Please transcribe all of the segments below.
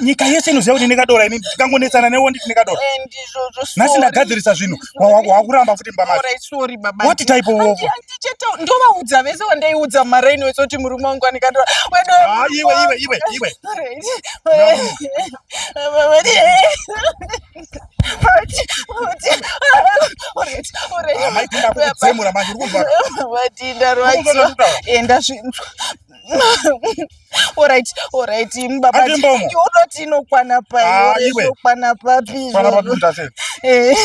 nyika yese inoziva kuti ndinekadora ini ndikangonetsana newe nditi nekadora nhasi ndagadzirisa zvinhu wakuramba futi mbamawati type of ndovaudza vese wandaiudza maraini wese kuti murume wangu anikadora ah, iwe iwe iwe iwe amai Alright, alright, baba. Ati mbomo. Unoti inokwana pai, ah, iwe. Inokwana papi. Kwana papi mtase. Eh.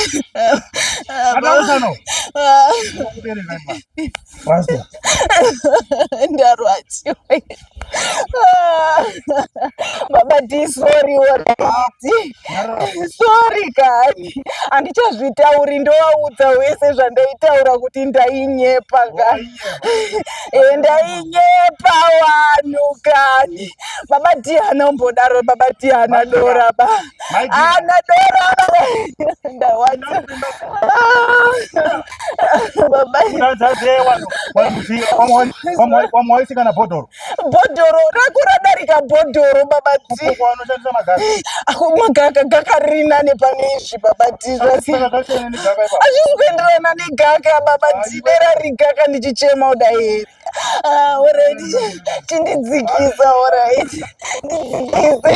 Ada usano. Ah. Ndakubere naipa. Pastor. Ndarwadziwa. Ah. Baba di sorry alright. Ah, sorry kani. Andichazvitauri ndowaudza wese zvandaitaura kuti ndainyepa kani. ndainyepa wanhu kani baba diana umbodaro baba diana doraba ana doraba ndawaza baba wamwaisikana bhodhoro bhodhoro rako radarika bhodhoro baba ti ako magaka gaka riri nane pane izvi baba ti hazvisi kuenderana negaka baba ti dera rigaka ndichichema uda here ah, orit chindidzikisa orit ndidzikise